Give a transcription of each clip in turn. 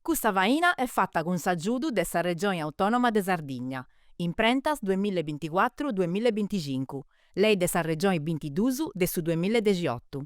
Custa faina est fata cun s'agiudu de sa Regioni Autònoma de Sardigna, Imprentas duamilla e binticuatru duamilla e binticincu, Lei de sa Regioni bintiduus de su duamilla e dexiotu.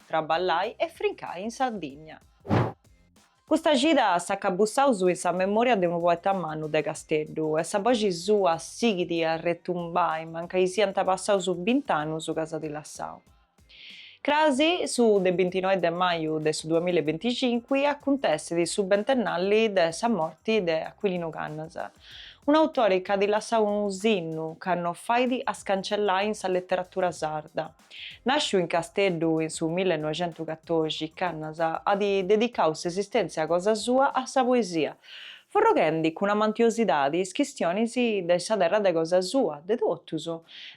traballai e frincai in Sardigna. Custa cida s'acabussaus in sa memòria de unu poeta mannu de Casteddu e sa boxi sua sighit a retumbai mancai siant passaus bint'annus ca s'at lassau. Cras su de bintinoe de maju de su duamilla e binticincu acuntessit su bentennali de sa morti de Aquilinu Cannas, un'autore chi at lassau unu sinnu ca no fait a scancellai in sa leteratura sarda. Nàsciu in Casteddu in su millenoixentucatorixi, Cannas at dedicau s'esistèntzia cosa sua a sa poesia, forroghendi cun amantiosidadi is chistionis de sa terra de cosa sua, de totus,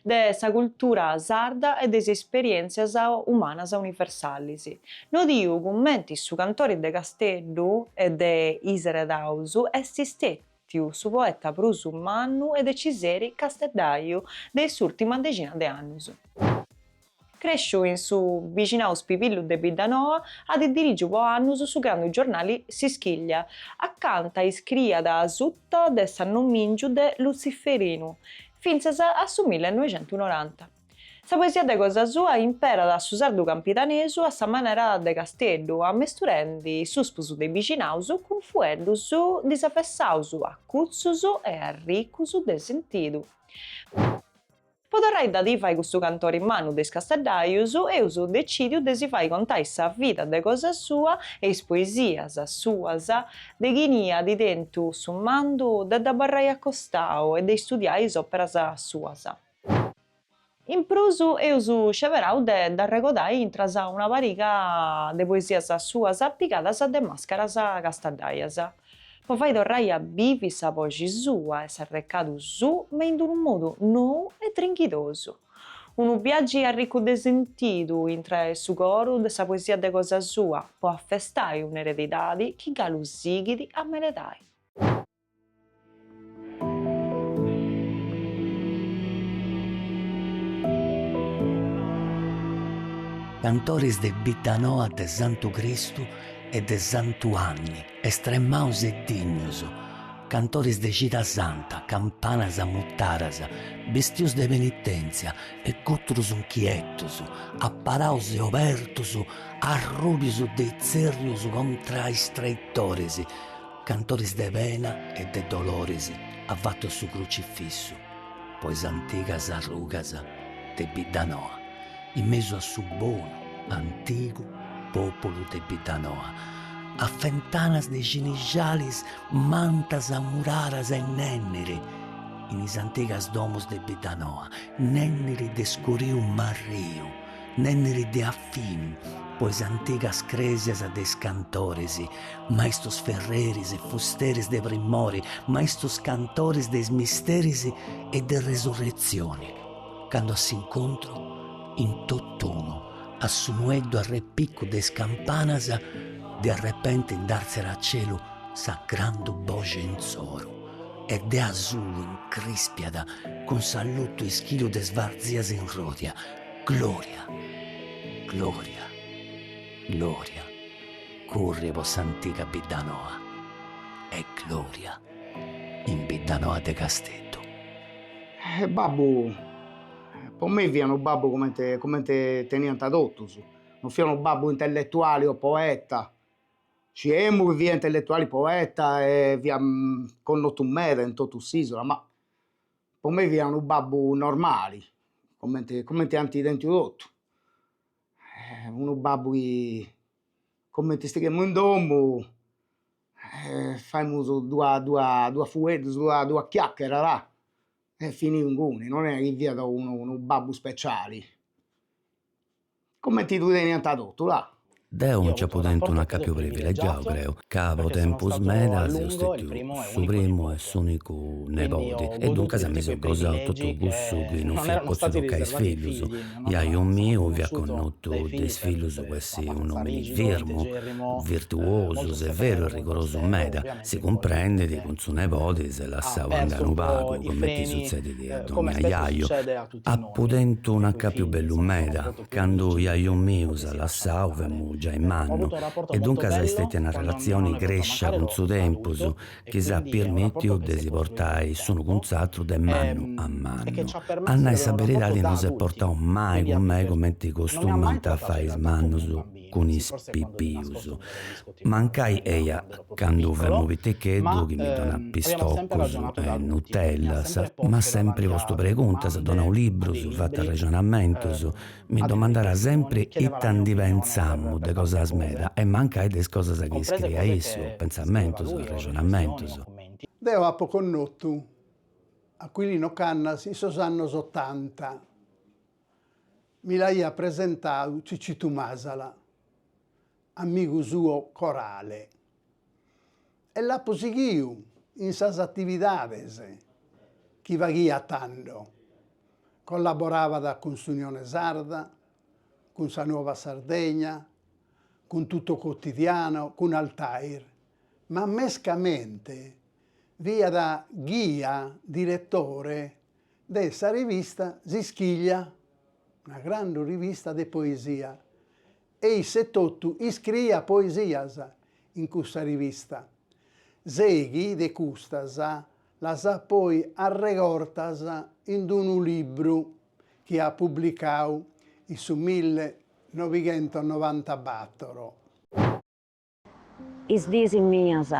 de sa cultura sarda e de is esperièntzias umanas universalis. Nodiu cumenti su cantori de Casteddu e de is eredaus est stètiu. Tiu, su poeta prus mannu e deciseri casteddaiu de s'ùrtima dexina de annus. Crèsciu in su bixinau spibillu de Biddanoa, at dirigiu po annus su grandu giornali S'Ischiglia, acanta iscriiat asuta de s'annomìngiu de Lutziferinu, fintzas a su millenoixentunoranta. Sa poesia de cosa sua imperat su sardu campidanesu a sa manera de Casteddu, ammesturendi suspus de bixinaus cun fueddus disavessaus, acutzus e arricus de sentidu. Po torrai da divai custu cantori mannu de is casteddaius, eus decìdiu de si fai contai sa vida de cosa sua e is poesias suas de chini at tentu su mandu de dd'abarrai a costau e de istudiai is òperas suas. In prus eus sceberau de dd'arregodai intras a una pariga de poesias suas pigadas de Màscaras casteddaias, po fai torrai a bivi sa boxi sua e s'arrecadu suu ma in d'unu modu nou e trinchidosu. Unu biagi arricu de sentidu intra 'e su coru de sa poesia de cosa sua, po afestai un'eredidadi chi galu sighit a meredai. Cantoris de Biddanoa de Santu Cristu e de Santu Anni, estremaus e dignus, cantoris de cida santa, campanas mutadas, bestius de penitenzia e gutrus inchietus, aparaus e obertus, arrùbius de tzèrrius contra is traitoris, Cantoris de pena e de doloris afatu a su crucifissu po is antigas arrugas de Biddanoa, in mesu a su bonu, antigu pòpulu de Biddanoa, a fentanas de cinixalis mantas amuraras e nènniri in is antigas domus de Biddanoa, nènniri de scuriu marriu, Nenniri de afinu po is antigas crèsias de is cantoris, maistus ferreris e fusteris de primori, maistus cantoris de is misteris e de resurretzioni, candu a s'incontru, in tot'unu, a su nueddu arrepicu de is campanas, de arrepenti nd'àrtziat a celu sa grandu boxi insoru e de asulu incrìspiat cun s'allutu ischìliu de is varzias in ròdia, Gloria, gloria, gloria, currit po s'antiga biddanoa e gloria in biddanoa de Casteddu. Babbu, po mei fiat unu babbu comente comente teniant totus, non fiat unu babbu intelletuali o poeta, sciemu chi fiat intelletuali, poeta e fiat connotu meda in totu s'isula, ma Po mei fiat unu babbu normali, comente comente ant tentu totu, unu babbu chi comente istighemus in domu e faimus duas duas duas fueddus duas duas chiaccheras e finiu inguni, non est chi fiat unu unu babbu speciali Cumenti ddu teniant totu là. Deu nci apu tentu un'acapiu privilegiau, creu, ca po tempus meda seu stetiu su primu e s'unicu nebodi e duncas mi seu gosau totu cussu chi non fiat potziu toccai a is fillus. Jaju miu fiat connotu de is fillus po essi un'omini firmu, virtuosu, severu e rigorosu meda, si cumprendit cun su nebodi s'est lassau andai unu pagu, cumenti sutzedit a donnia jaju. Apu tentu un acapiu bellu meda, candu iaiu miu s'at lassau, femu giai mannu, e duncas est stètia una relatzioni crèscia cun su tempus, chi s'at pirmìtiu de si portai s'unu cun s'atru de mannu a mannu. A nai sa beridadi no s'est portau mai cun mei cumenti costumant a fai is mannus. cun is pipius. Mancai eia candu femu piticheddu chi mi donàt pistocus e nutellas, m'at sempri postu preguntas, donau librus, fatu arrexonamentus, mi domandàt sempri ita ndi pentzamu de cosas meda e mancai de is cosas chi scriiat issu, pentzamentus, arrexonamentus. Deo apo connotu Aquilino Cannas in sos annos otanta, mi l'aiat presentadu Cicitu Masala, amigu suo corale, e l'apo sighiu in sas atividades chi faghiat tando, collaborabat cun s'Unione Sarda, cun sa Nuova Sardegna, cun Tutto Quotidiano, cun Altair, ma mescamente fiat ghia diretore de sa rivista S'Ischiglia, una grande rivista de poesia, e isse totu iscriiat poesias in cussa rivista. Seghi de custas las at poi arregortas in d-unu libru chi at publicau in su milli novighentos e novantabator. Is diis mias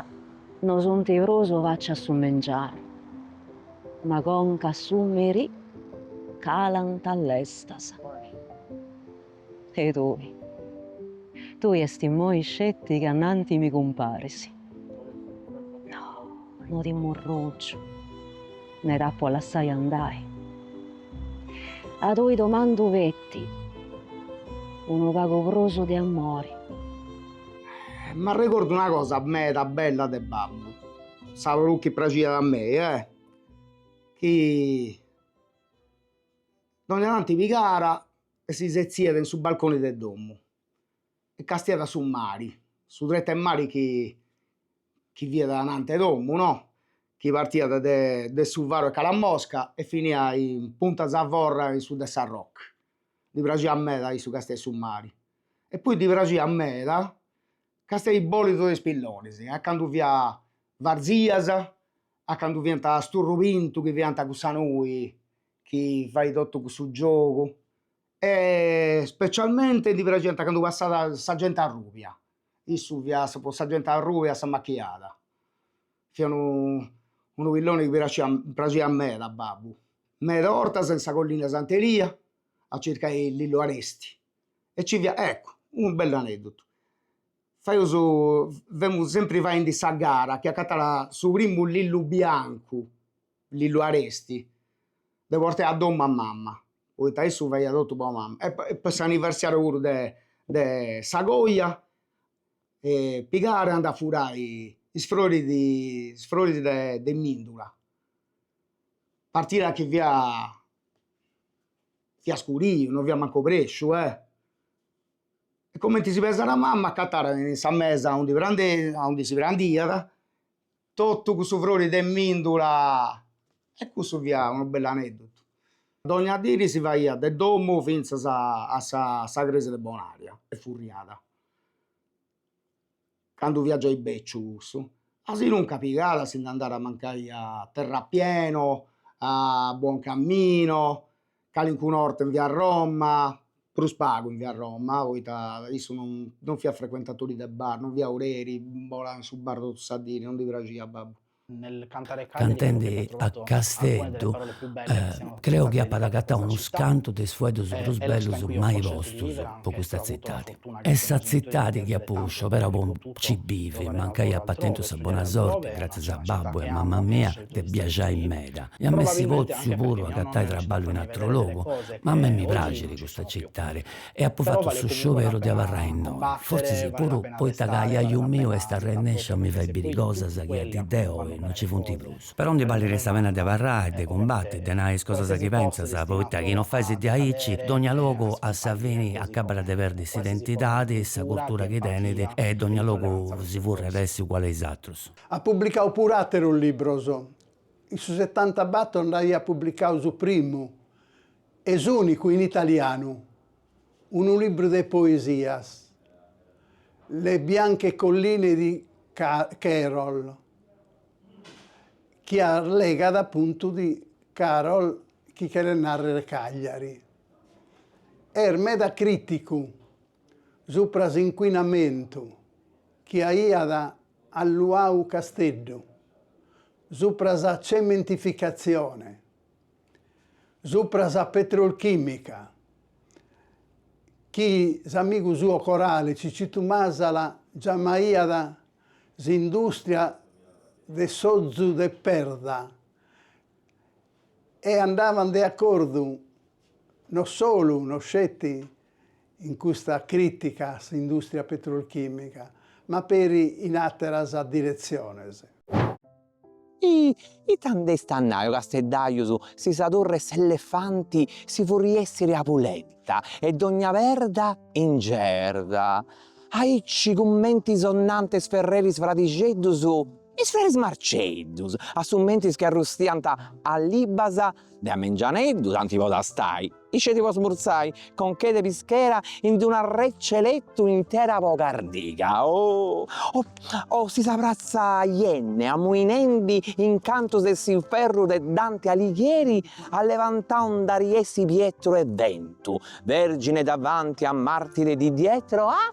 no sunt prus faci a su mengianu, ma conca a su merì calant lestas. E tui? Tui est immoi sceti ca ananti mi cumparis. No, no ti murrùngiu. Mi dd'apu a lassai andai. A tui domandu feti unu pagu prus de amori. M'arregordu una cosa meda bella de babbu, sa prus chi praxiat a mei eh, chi dogna tanti pigàra e si setziat in su balconi de domu e castiat su mari, su tretu 'e mari chi chi fiat ananti 'e domu no, chi partiat de de su faru 'e Calamosca e finiat in Punta Zavorra in su de Sarroch, ddi praxiat meda a issu castiai su mari e poi ddi praxiat meda castiai is bòlidus de is pillonis, a candu fiat varzias, a candu fiant sturru pintu chi fiant cussa nui chi fait totu cussu giogu E specialmente ddi praxiant candu passat sa genti arrùbia, issu fiat po sa genti arrùbia s'amachiada, fiat unu pilloni chi praxiat praxiat meda a babbu, meda 'ortas in sa collina 'e Sant'Elia a circai lillu aresti e nci fiat, eccu, unu bellu aneddotu, faius femus sempri faendi sa gara a chi acatara su primu lillu biancu lillu aresti, de portai a domu a mama, poita issu faiat totu po mama e po s'anniversàriu puru de de sa coja e pigàra e andàt a furai is froris de is froris de mìndula, partiat chi fia fia scuriu, no fia mancu obrèsciu e e cumenti si pesat mama acatara in sa mesa aundi prandesi aundi si prandiat Totu cussu frori de mìndula. E cussu fiat unu bell'anèddotu. Dogna diri si faiat de domu fintzas a sa a sa crèsia de Bonaria e furriada. Candu fiat giai bèciu cussu, asinuncas pigada si nd'andàt mancai a Terrapieno, a Buoncamino calincuna 'orta in via Roma, prus pagu in via Roma, poita issu non non fiat frecuentatori de bar, non fiat oreri, bolat in su bar totu sa diri, non ddi praxiat a babbu. Cantendi a Casteddu, creu chi apat agatau unus cantu de is fueddus prus bellus mai postus po custa tzitadi. Est sa tzitadi chi apu scioberau po nci bivi, mancai apa tentu sa bona sorti, gratzias a babbu e a mama mia de biaxai meda iam'essi potziu puru agatai traballu in atru logu, ma a mei mi praxit custa citadi e apu fatu su scioberu de abarrai innoi, fortzis puru poita ca jaju miu est arrennesciu a mi fai biri cosas chi a dì de oi no ci funt prus. Però ndi ballit sa pena de abarrai, de cumbati, de nai is cosas chi pentzas, poita chi no faisi de aici, dogna logu a sa fini acabat de perdi s'identidadi, sa curtura chi tenit e dogna logu si furriat a essi uguali a is atrus. At publicau puru àterus libros. In su setantabator nd'aiat publicau su primu e s'ùnicu in italianu, unu libru de poesias, Le bianche colline di Karel, chi arlegat apuntu de Karel chi cheret nàrrere Cagliari. Est meda crìticu supra s'incuinamentu chi aiat alluau Casteddu, supra sa cementificatzione, supra sa petrolchimica, chi s'amigu suo corale Cicitu Masala giamaiat s'industria de s'ozu de perda, e andavan de acordu no solu, no sceti, in custa crìtica a s'indùstria petrolchìmica, ma peri in àteras diretziones. E ita nd'eis a nai, o Casteddajus, si sa Torre 'e s'Elefanti si furriessit a pulenta e dogna perda in gerda, aici cumenti sonantes ferreris fradixeddus, Is feris Marceddus, a su mentris chi arrustiant a libbas de a mengianeddu tanti po tastai, isceti po smurzai, conchedda 'e pischera in d'una rècia 'e letu intera po cardiga oh o si sa pratza Yenne amuinendi in cantus de s'inferru de Dante Alighieri allevantau nd'ariessi Pietru e ventu, vergine davanti a martiri di dietro a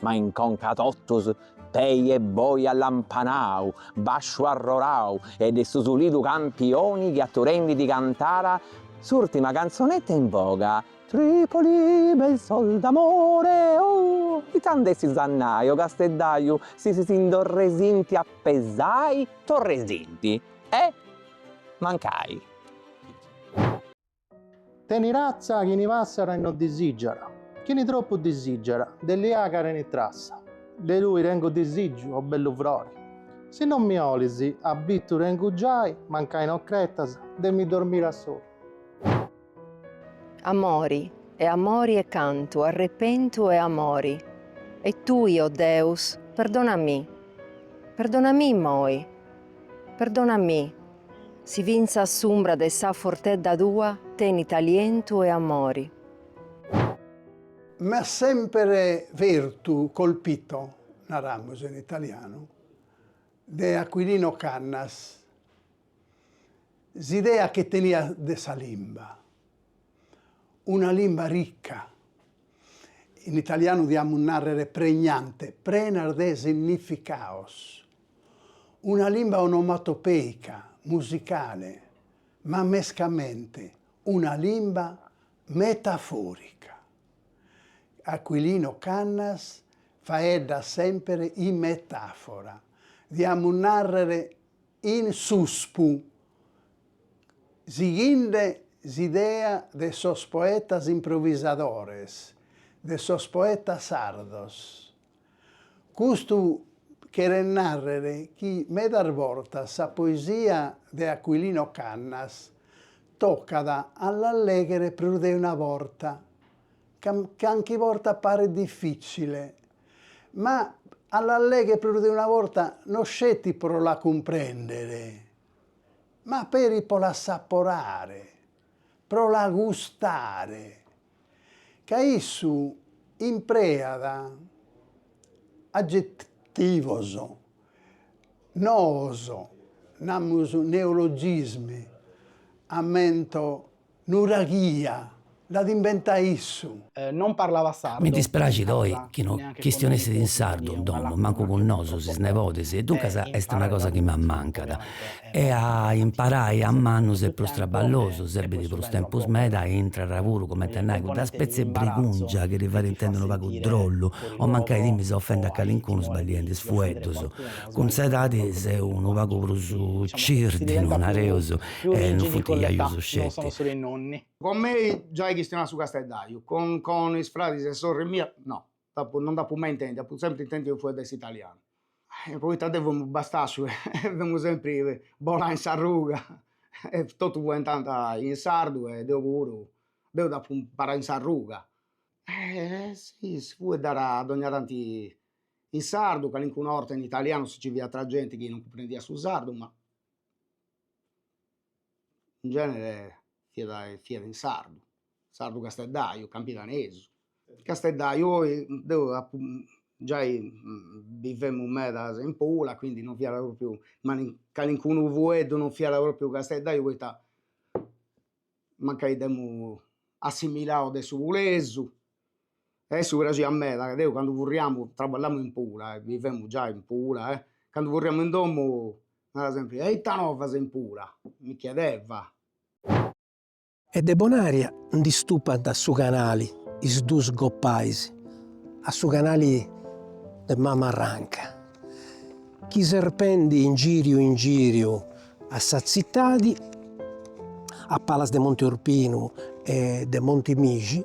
Ma in conca totus, pei e boi allampanau, basciu arrorau ed est su sulidu campioni chi aturendi di cantara s'urtima canzonetta in boga, Tripoli bel suol d'amore oh, ita nd'essi a nai o Casteddaiu si si nd'orresinti a pesai, torresinti e mancai. Teni razzia chini passara e no disijara, chini troppu disijara de liaga teni trassa. De tui tengu disiju, o bellu frori, si no mi 'olisi abbitu tengu giai, mancai no cretas de mi dormiri a soli. Amori e amori e cantu, arrepentu e amori, e tui, o Deus, perdona mi, perdona mi immoi, perdona mi, Si fintzas s'umbra de sa foltedda tua tenit alientu e amori. M'at semper fertu, colpito, naramus in italianu, de Aquilino Cannas, s'idea chi teniat de sa limba, una limba ricca, in italianu diamus nàrrere pregnante, prenas de significados, una limba onomatopèica, musicale, ma mescamente una limba metafòrica. Aquilino Cannas faeddat semper in metàfora, diamus nàrrere in suspu, sighinde s'idea de sos poetas improvisadores, de sos poetas sardos. Custu cheret nàrrer chi medas bortas sa poesia de Aquilino Cannas tocat a la lèghere prus de una borta, ca canchi borta paret difìtzile, ma a la lèghere prus de una borta no sceti pro la cumprèndere, ma peri pro la assaporare, pro la gustare. ca issu impreat agetivos noos, namus neologismi, ammento nuraghia, l'at imbenta issu. Non parlava sardu. Mi dispraxit oi chi no chistionessit in sardu in domo, mancu cun nosus, is nebodis, e duncas est una cosa chi m'ammancat. e a imparai a mannus est prus traballosu, serbit prus tempus meda e intrat puru, cumenti a nai, cudda spetzi 'e brigungia chi ti fait intendi unu pagu drollu o mancai timis a ofendi a calincunu sbagliendi is fueddus. Cun s'edadi seu unu pagu prus cirdinu, nareus, e non funt jajus sceti. Cun mei giai chistionat su Casteddaju, cun is fradis e sorri mia no. Nd'apu, no nd'apu mai intendiu, apu sempri intendiu fueddai in italianu. E poita deu femu bastasciu e femu sempri bolà in s'arruga e totus fueddànt in sardu e deu puru, deu dd'apu imparau in s'arruga. E si, si fueddàt dogna tanti in sardu, calincuna 'orta in italianu si nci fiat genti chi non cumprendiat su sardu ma in genere fiat fiat in sardu, sardu casteddaju, campidanesu, casteddaju o deu giai bivemus medas in Pula quindi non fiat propriu calincunu fueddu non fiat propriu casteddaju poita mancai dd'emus assimilau de su pulesu E a issu praxiat meda, deu candu furriamu, traballamu in Pula e bivemu giai in Pula e candu furriamu in domu narat sempri, e ita novas in Pula? mi chiedeva. E de Bonaria ndi stupat a su canali is duus goppais, a su canali de Mamarranca, chi serpendi in giriu in giriu a sa tzitadi, a palas de Monti Orpinu e de Monti Mixi,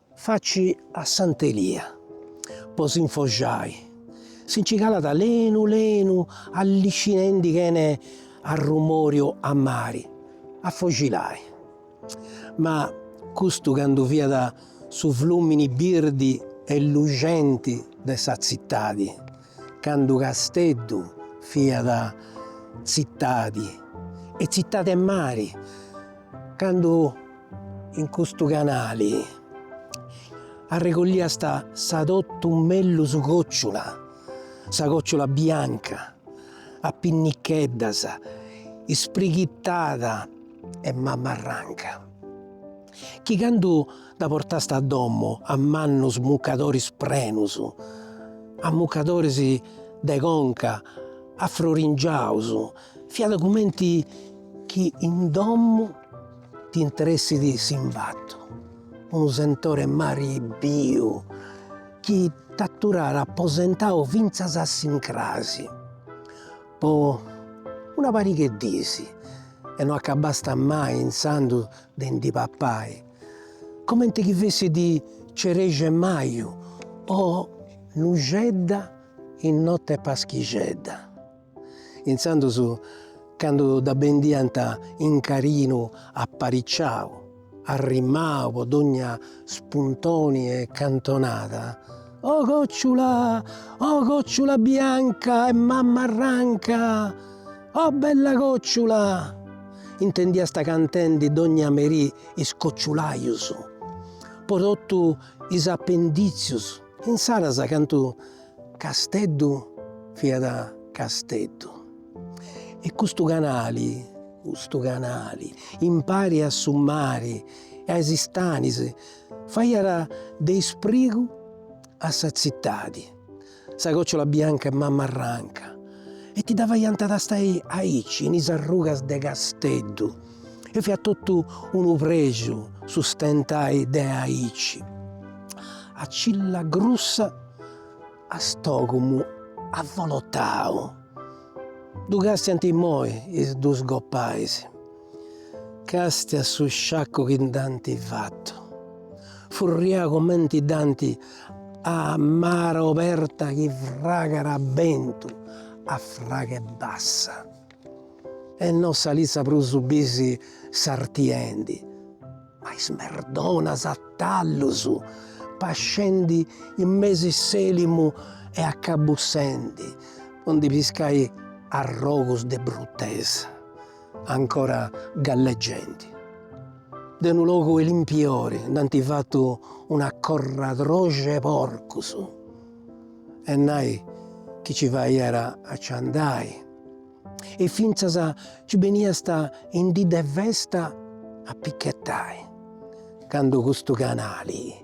Faci a Sant'Elia po s'infoxai, si nci calat lenu lenu alliscinendi chene arrumoriu a mari, a foxilai. Ma custu candu fiat su flùmini birdi e luxenti de sa tzitadi. Candu Casteddu fiat tzitadi e tzitadi 'e mari, candu in custu canali arregolliast sa totu mellus còciula, sa còciula bianca a pinnicheddas, isprighitada 'e Mamarranca. Chi candu dda portast a domu a mannus mucadoris prenus, a mucadoris de conca afroringiaus, fiat cumenti chi in domu ti intressit s'imbatu, unu sentore 'e mari biu chi t'aturàt aposentau fintzas a s'incrasi po una pariga 'e dis e no acabasta mai intzandus de ndi papai, comente chi fessit cereja 'e maju o nuxedda in notte 'e paschixedda. Intzandus candu dda bendiant in cadinu apariciau, arrimau po dogna spuntoni 'e cantonada, O còciula, o còciula bianca 'e Mamarranca! O bella còciula! intendiast cantendi dònnia merì is cociulajus, po totu is apendìtzius, insaras candu Casteddu fiat Casteddu. E custu canali, custu canali, impari a su mari e a is istanis, faiat de isprigu a sa tzitadi. Sa còciula bianca 'e Mammarranca e ti dda faiant tastai aici in is arrugas de Casteddu e fiat totu unu prexu su stentai de aici a cilla grussa a stògumu avolotau. Ddu càstiant immoi is dus gopais. Càstia su sciaccu chi nd'ant fatu, furriau comenti dd'ant a mara oberta chi fragat a bentu, a fragu 'e bassa, e no sa lissa prus bis sartiendi, ma is merdonas a tallus, pascendi in mesu 'e s'èlimu e accabussendi po ndi piscai arrogus de bruttesa. ancora galleggendi. De unu logu 'e limpiori nd'ant fatu un'acorradroxu 'e porcus, e nai chi nci faiat a nci andai, e fintzas nci beniast in dì de festa a pichetai, candu custu canali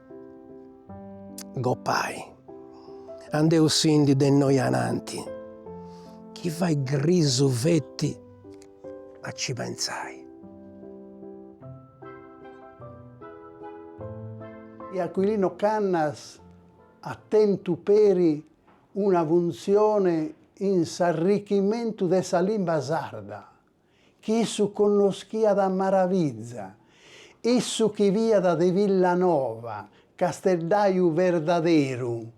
gopai. Andeusindi de innoi ananti, chi fait grisu feti a ci pensai. E Aquilino Cannas at tentu peri una funtzione in s'arrichimentu de sa limba sarda, chi issu connoschiat a maraviza, issu chi fiat de Villanova, Casteddaju verdaderu,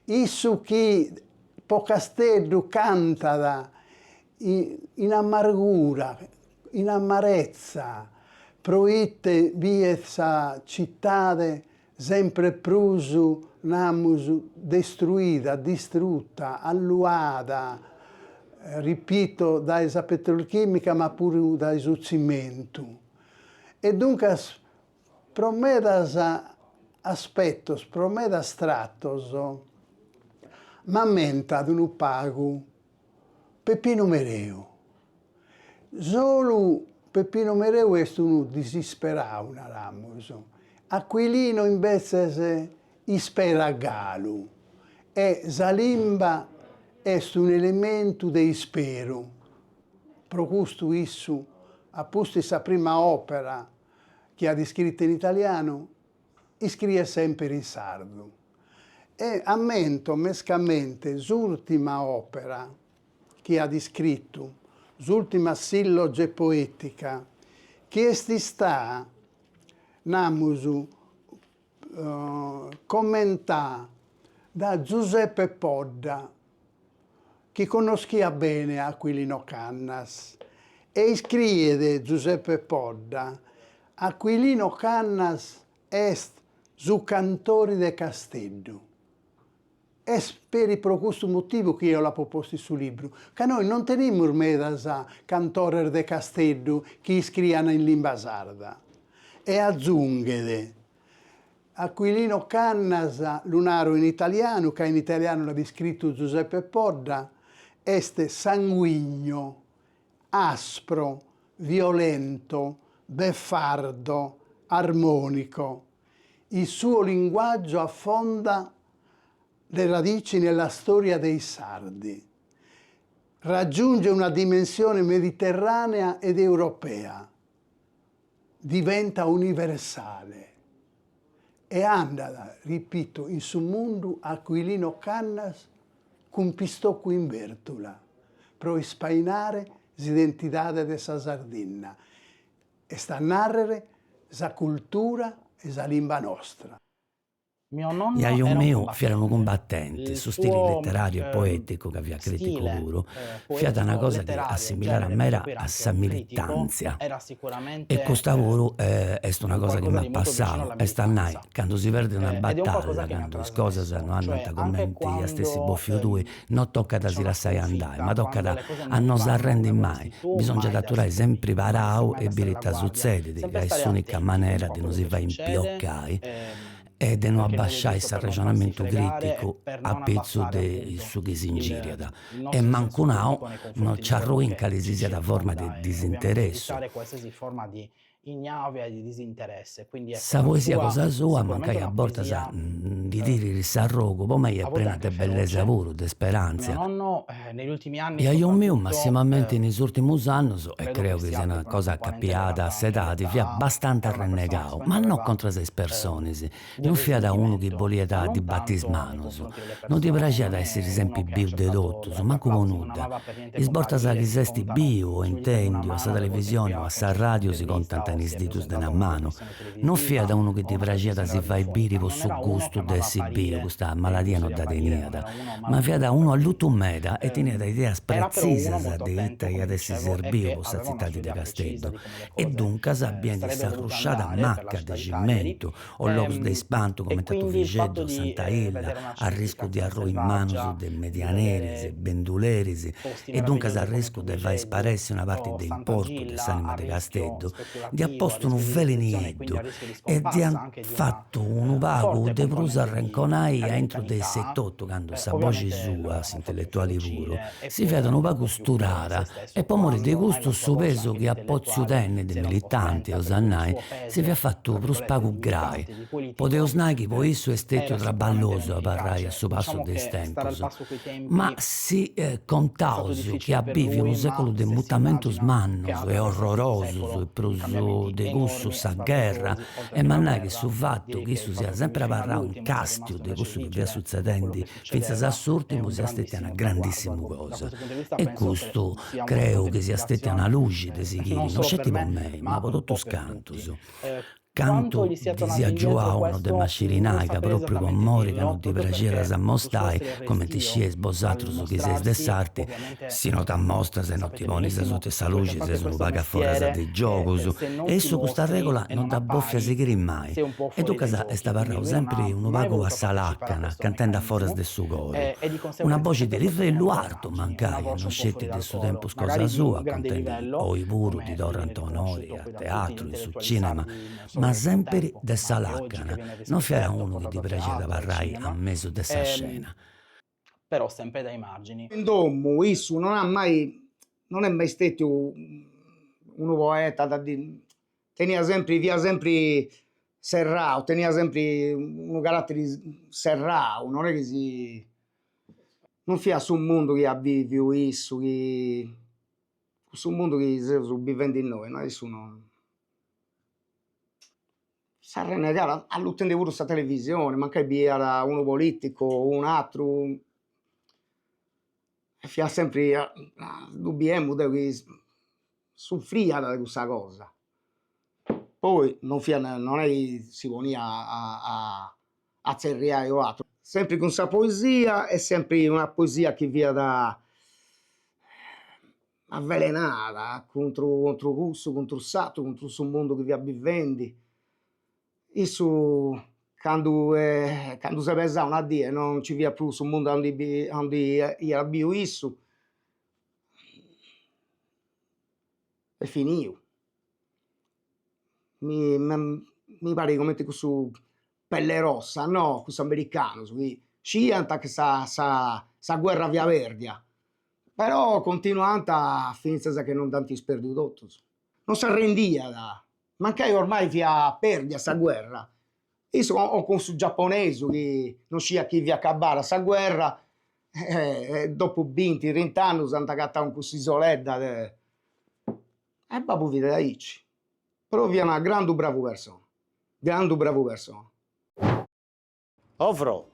issu chi po Casteddu cantat in amargura, in amarezza, pro ite biet sa citade Sempre prus namus destruida, distruta, alluada, ripito, dae sa petrolchimica ma puru dae su tzimentu. E duncas pro medas aspetos, pro medas tratos m'ammentat unu pagu Peppinu Mereu. Solu Peppinu Mereu est unu disisperau, naramus, Aquilino imbetzes isperat galu e sa limba est un'elementu de isperu. Pro custu issu, a pustis sa prima òpera chi at iscritu in italianu, iscriet semper in sardu e ammento mescamente s'ùltima òpera chi at iscritu, s'ùltima silloge poètica, chi est istada, namus, commentada dae Giuseppe Podda. chi connoschiat bene a Aquilino Cannas e iscriet Giuseppe Podda, Aquilino Cannas est su cantori de Casteddu. Est peri pro custu motivu chi eo l'apo postu in su libru, ca nois non tenimus medas cantores de Casteddu chi iscrian in limba sarda. E atzunghet. Aquilino Cannas, lu naro in italianu, ca in italianu l'at iscritu Giuseppe Podda, est sanguigno, aspro, violento, beffardo, armonico. Il suo linguaggio affonda le radici nella storia dei sardi. Raggiunge una dimensione mediterranea ed europea. Diventa universale e andat, ripito, in su mundu Aquilino Cannas cun pistocu in bèrtula pro ispainare s'identidade de sa Sardinna, est a nàrrere sa cultura e sa limba nostra. Jaju miu fiat unu cumbatenti, su stili leteràriu e poèticu, ca fiat crìticu puru, fiat una cosa chi assimilaat meda a sa militàntzia e custa puru est una cosa chi m'at passau, est a nai, candu si perdit una batalla, candu is cosas no andant cumenti iast essi bòfiu tui, No tocat a si lassai andai, ma tocat a no s'arrendi mai, bisòngiat aturai sempri parau e biri ita sutzedit, ca est s'ùnica manera de no si fai impiocai e de no abasciai s'arrexonamentu crìticu a pitzus de su chi s'ingìriat. E mancu nau, no nci arrui in cali si siat forma de disinteressu. Sa poesia cosa sua mancai a bortas ndi tirit s'arrogu po mei est prena de bellesa puru, de sperantzia. Jaju miu massimamenti in is ùltimus annus e creu chi siat una cosa acapiada a s'edadi fiat bastanti arrennegau, ma no contras a is personas, Non fiat unu chi boliat ddi bati is manus, non ddi praxiat a essiri sempri biu de totus, mancu po nudda. Is bortas chi s'est biu o intendiu a sa televisioni o a s'arradiu si contant in is didus de una manu. Non fiat unu chi ddi praxiat a si fai biri po su gustu de essi biu, custa maladia no dda teniat, ma fiat unu allutu meda e teniat ideas pretzisas de ita iat essi serbiu po sa tzitadi de Casteddu. e duncas biendi s'arrusciada macca de cimentu o logus de ispantu comente a Tuvixeddu o Santa Illa a riscu de arrui in manus de medianeris, benduleris e duncas a riscu de fai sparessi una parti de importu de s'anima de Casteddu, dd'iat postu unu velu nieddu e dd'iat fatu unu pagu de prus arrenconai a intru de sei etotu candu sa boxi sua, s'intelletuali puru, si fiat unu pagu sturada E po mori de custu su pesu chi at potziu tenni de militanti, eus a nai, si fiat fatu prus pagu grai. Podeus nai chi po issu est stetiu traballosu abarrai a su passu de is tempus. Ma si contaus chi at biviu unu seculu de mutamentus mannus e orrorosus e prus de cussu sa gherra, em'a nai chi su fatu chi issu siat sempri abarrau in castiu de cussu chi fiat sutzedendi fintzas a s'urtimu siat stetia una grandissimu cosa e custu creu chi siat stetia una luxi de sighiri no sceti po mei ma po totus cantus cantu ddi siat giuau no dd'em'a sciri nai ca propriu po mori ca no ddi praxiat a s'ammostai, comenti scieis bosatrus chi seis de s'arti Si no t'ammostras e no ti ponis asuta 'e sa luxi ses unu pagu a foras de is giogus, e issu custa règula no dd'at bofia sighiri mai, e duncas est abarrau sempri unu pagu a sa làcana, cantende a foras de su coru. Una boxi de livellu artu, mancai e no sceti de su tempus cosa sua, cantende oi puru ddi torrant onori a teatru, in su cìnema, ma sempri de sa làcana, no fiat unu chi ddi praxiat abarrai a mesu de sa scena. però sempre dai margini. In domu issu non at mai non est mai stetiu unu poeta de ddi teniat sempre fiat sempre serrau teniat sempre unu caratteri serrau non est chi si non fiat su mundu chi at biviu issu chi su mundu chi seus bivendi innoi no issu non S'arrennegat, allutende puru sa televisione, mancai biiat unu politicu o un'atteru e fiat sempri ddu biemu deo chi suffriat de cussa cosa, poi non fiat non est chi si poniat a a zerriai o atteru, sempri cun sa poesia e sempri una poesia chi fiat avvelenada cuntru cuntru cussu cuntru s'atteru cuntru su mundu chi fiat bivendi issu candu candu s'est pesau una die non nci fiat prus su mundu 'ondi bi 'ondi iat biu issu est finiu mi mi parit comente cussus pellerossa no cussus americanus chi sciiant chi sa sa sa guerra fiat pèrdia Però continuant fintzas che non dd'ant isperdiu totus. Non s'arrendiat, mancai ormai fiat pèrdida sa guerra, issu o cun su giaponesu chi non sciat chi fiat acabbada sa guerra e dopu binti trint'annus ant agatau in cuss'isoledda de e babbu fit aici, però fiat una grandu bravu persona, grandu bravu persona O fro.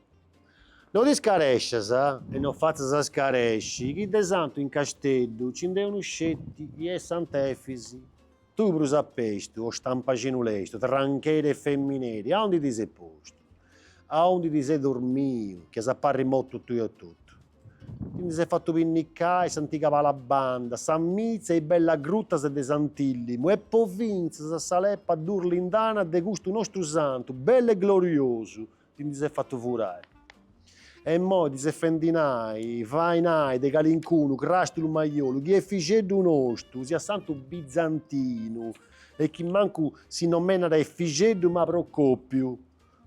No t'iscarescias e no fatzas a iscaresci chi de santu in Casteddu nci nd'est unu sceti chi est sant'Efis, tui prus a pestu, o stampaxinu lestu, trancheri e femineri, aundi ti ses postu? Aundi ti ses dormiu chi as a parri motu tui etotu? Ti ndi ses fatu pinnicai s'antiga Palabanda, sa mitza e is bellas grutas de Sant'Illimu e po fintzas a sa leppa durlindana de custu nostru santu bellu e gloriosu ti ndi ses fatu furai. E immoi ti ses fendi nai, fai nai de calincunu crastulu maiolu chi Efixeddu nostu siat santu bizantinu e chi mancu si nomenat Efixeddu ma Procòpiu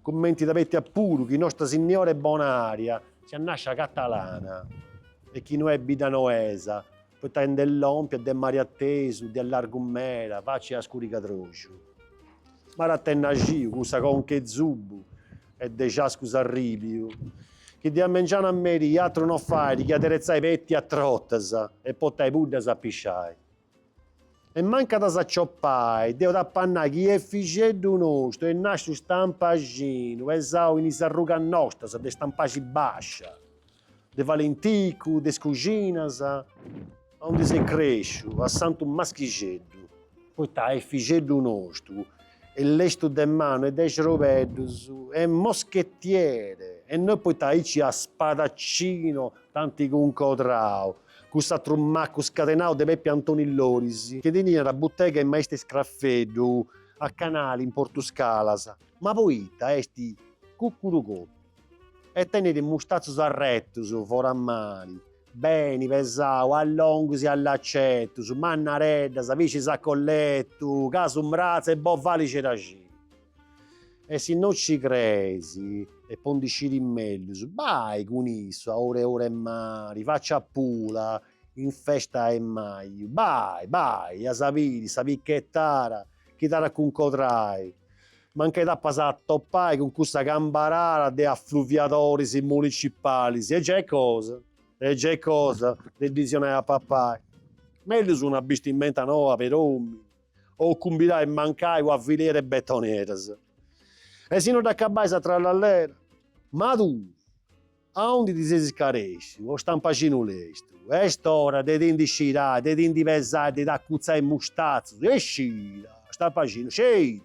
Cumenti t'abetiat puru chi Nosta Signora 'e Bonària siat nàscia catalana e chi no est biddanoesa, poita nd'est lòmpia de mari atesu, de largu meda, faci a scurigadroxu. M'arat tennaxiu cussa conca 'e zubu e de ciascus arribiu, chi de a mengianu a merì, atru no fait chi aderetzai petias trotas e potai puddas a pisciai. E mancai t'as a sciopai, deu t'apo a nai chi Efixeddu nostu est nasciu stampaxinu, pesau in is arrugas nostras de Stampaxi Bascia, de Valenticu, de is Cuxinas, aundi s'est cresciu, a Santu Maschixeddu, poita Efixeddu nostu est lestu de manu e de xerobeddus, est moschetiere e non poita aici a spadaccino dd'ant cuncodrau, cun s'atru macu scadenau de Pepi Antoni Lonis, chi teniat butega 'e maistu 'e scraffeddu, a Canali, in Portuscalas. Ma poita est cuccuru cotu e tenit mustatzus arretus, foras mali, beni pesau, a longus e a lacetus, mannareddas, piscis a colletu, casu mratzu e bovali ceraxinu. E si no ci creis e po ndi sciri mellus, bai cun issu a oru oru 'e mari, faci a Pula in festa 'e maju, bai, bai, e as a biri sa pichettara chi t'at a cuncodrai, ma nche t'apas a atopai cun cussa cambarara de affluviadoris municipalis e giai cosa, e giai cosa, de ddis donai a papai, mellus una bistimenta noa per'omini. o cumbirai mancai una filera 'e betoneras. E si no dd'acabais a trallallera? Ma tui, aundi ti ses iscaresciu, o stampaxinu lestu, est ora de ti ndi scirai, de ti ndi pesai, de t'acutzai is mustatzus, e scira, stampaxinu, scira,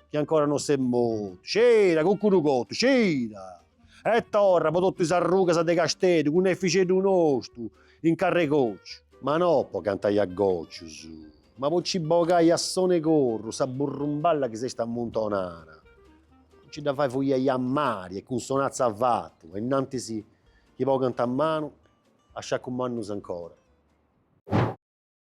chi ancora no ses mortu, scira, cuccurucotu, scira! E torra po totu is arrugas de Casteddu cun Efixeddu nostu in carr'e cociu. Ma no po cantai a gocius, ma po ci bogai a sonu 'e corru sa burrumballa chi s'est ammuntonada, po ci dda fai fuliai a mari e cun sonatza avatu e innantis chi pongant manu a sciacus mannus ancora.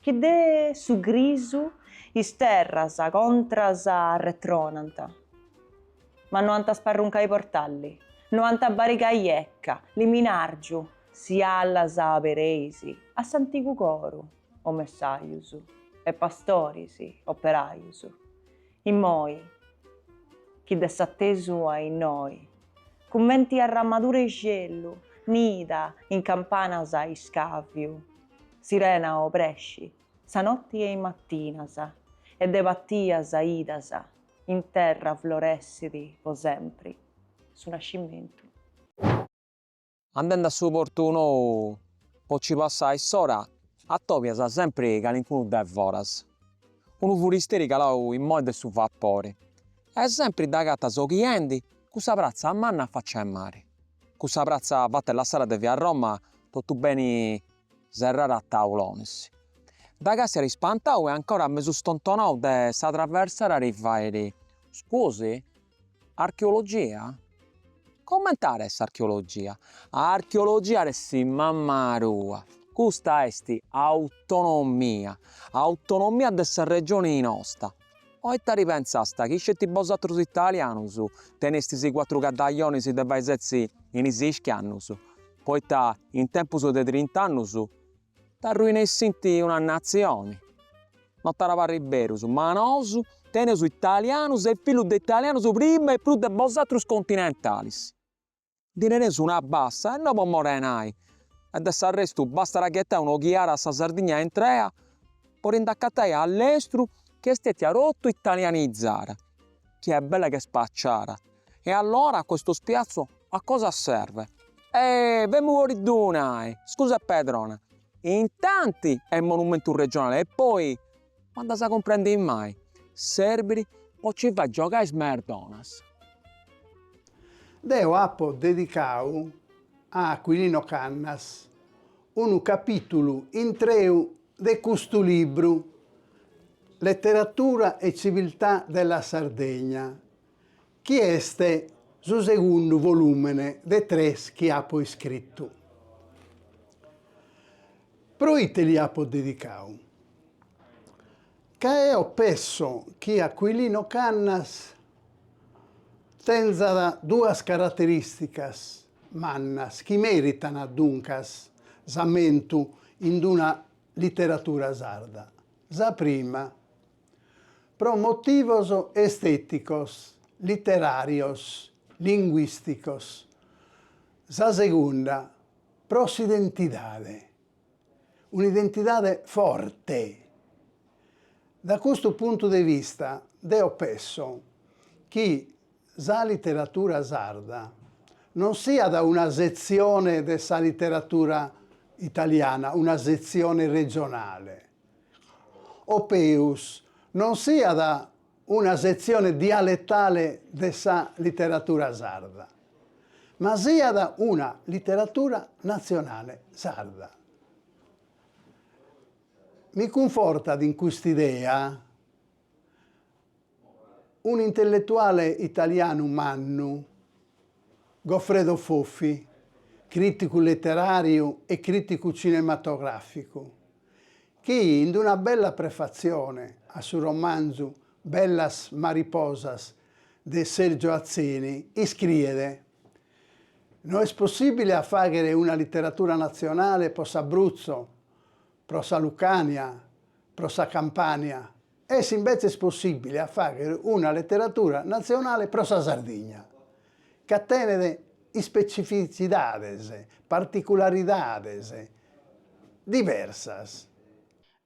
Chi de su grisu is terras contras arretronant. Ma no ant a sparruncai portali, no ant a barigai ecca, liminargiu, si alas abereis, a s'antigu coru, o messajus, e pastoris, operajus. Immoi, chi de s'atesu a innoi, cumenti arramadura 'e celu, nida in campanas a iscaviu, Serena obrescit sa notti e in matinas, e de patias bidas, in terra floressit po sempri su nascimentu. Andendi a su portu nou po ci passai s'ora atobias sempri calincunu de foras, unu furisteri calau immoi de su vapori, e sempri dd'agatas oghiendi cussa pratza manna a faccia 'e mari. Cussa pratza fatta e lassara de via Roma totu beni serrara a taulonis. Dda càstiat spantau e ancora mesu stontonau de sa traversada ti fait, Scusi? Archeologia? Coment'at a essi archeologia? Archeologia at a essi mamma tua! Custa est autonomia! Autonomia de sa regioni nosta! O ita ti pensasta chi sceti bosatrus italianus tenestis cuatru caddajonis de fai setzi in is iscannus, poita in tempus de trint'annus t'arruinessinti una natzioni? No t'at a parri berus, ma nosu teneus italianus e fillus de italianus prima e prus de bosatrus continentalis. Ndi nareus una bassa e no po morenai e de s'arrestu bastat a ghetai un'oghiada a sa Sardigna intrea po si nd'acatai a allestru chi est stetia totu italianizada, chi est bella che spaciada e allora a questo spiazzo a cosa serve? Ehi, femu po ddi donai, scusa Pedrona, intanti est monumentu regionale e poi Ma candu as a cumprendi mai? Serbit po ci fai giogai is merdonas. Deu apo dedicau a Aquilino Cannas unu capìtulu intreu de custu libru, Letteratura e civiltà della Sardegna, chi est su segundu volùmene de tres chi apo iscritu. Pro ite li apo dedicadu? Ca eo pesso chi Aquilino Cannas tenzat duas caraterìsticas mannas chi mèritan duncas s'ammentu in una literatura sarda. Sa prima. pro motivos estèticos, literàrios, linguìsticos, sa segunda pro s'identidade, un'identidade forte. Da custu puntu de vista deo pesso chi sa literatura sarda non siat una setzione de sa literatura italiana, una setzione regionale, o peus non siat una setzione dialetale de sa literatura sarda, ma siat una literatura natzionale sarda. Mi cunfortat in cust'idea. Un'intelletuale italianu mannu, Goffredo Fofi, crìticu literàriu e crìticu cinematogràficu, chi in una bella prefatzione a su romanzu Bellas mariposas de Sergio Atzeni iscriet, No est possìbile a fàghere una literatura natzionale pro s'Abruzzo, pro sa Lucània, pro sa Campània, Est imbetzes possìbile a fàghere una leteratura natzionale pro sa Sardigna, ca tenet ispetzifitzidades, particularidades diversas.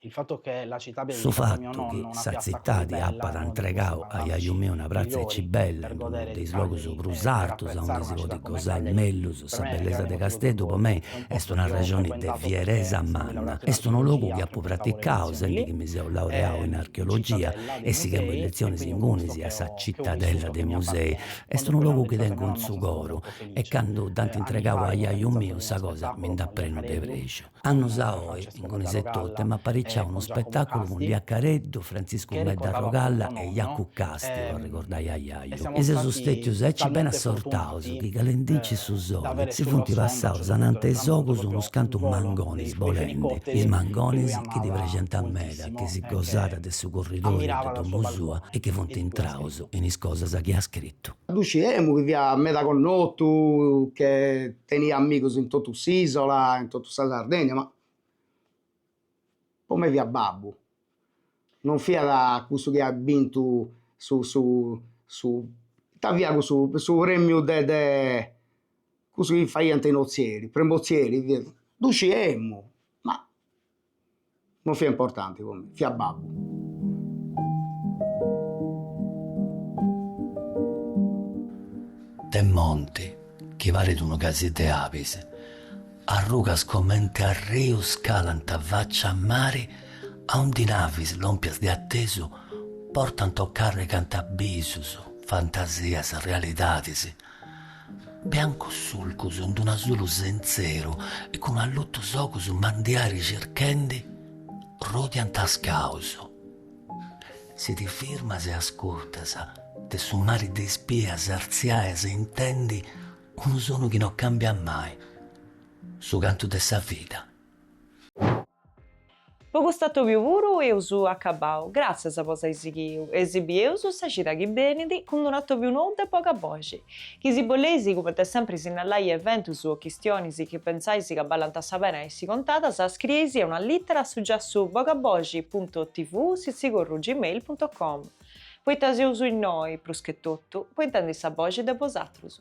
Su fatu chi sa tzitade apat antregadu a jaju meu una pratza aici bella in unu de is logus prus artus aundi si podit gosai mellus sa bellesa de Casteddu po mei Est una rexoni de fieresa manna. Est unu logu chi apu praticau sendi chi mi seu laureau in archeologia e sighemu is letzionis ingunis a sa Cittadella dei Musei. Est unu logu chi tengu in su coru e candu dd'ant intregau a jaju miu sa cosa mi nd'at prenu de prexu. Annus a oi ingunis etotu, emu apariciau unu spetàculu cun Lia Careddu, Frantziscu Medda Arrogalla e Jacu Casti, po arregordai a jaju. E seus stètius aici beni assortaus chi calendincit su soli si funt passaus ananti 'e is ogus unus cantu mangonis bolendi, is mangonis chi ddi praxenta meda chi si gosàt de su curridori de domu sua e chi funt intraus in is cosas chi at scritu. Ddu sciemu chi fiat meda connotu chi Teniat amigus in totu s'Isola, in totu sa Sardegna, ma po mei fiat babbu, non fiat cussu chi at bintu su su su ita fiat cussu su premiu de de cussu chi faiant in Ozieri, Premiu Ozieri, ddu sciemu ma non fiat importanti po mei, fiat babbu. De monti chi parit unu casiddu 'e abis, arrugas comente arrius calant faccia a mari, aundi navis lompias de attesu portant o carrigant abbisus, fantasias, realidadis, Biancus surcus in d'un'azulu sentzeru e cun allutus ogus mandiari circhendi rodiant is caus. Si ti firmas e ascurtas de su mari de is bias artziai as intendi unu sonu chi no cambiat mai, su cantu de sa vida. Po cust'atòbiu puru eus acabau, gràtzias po s'ai sighiu e si bieus sa cida chi benit cun d'un'atòbiu nou de Bogaboxi, chi si boleis cumenti sempri sinnalai eventus o chistionis chi pentzais ca ballant sa pena essi contadas scrieisì una lìtera a su giassu bogaboxi puntu tv sitzigorru gmail puntu com, poita seus innoi, prus che totu, po intendi sa boxi de bosatrus.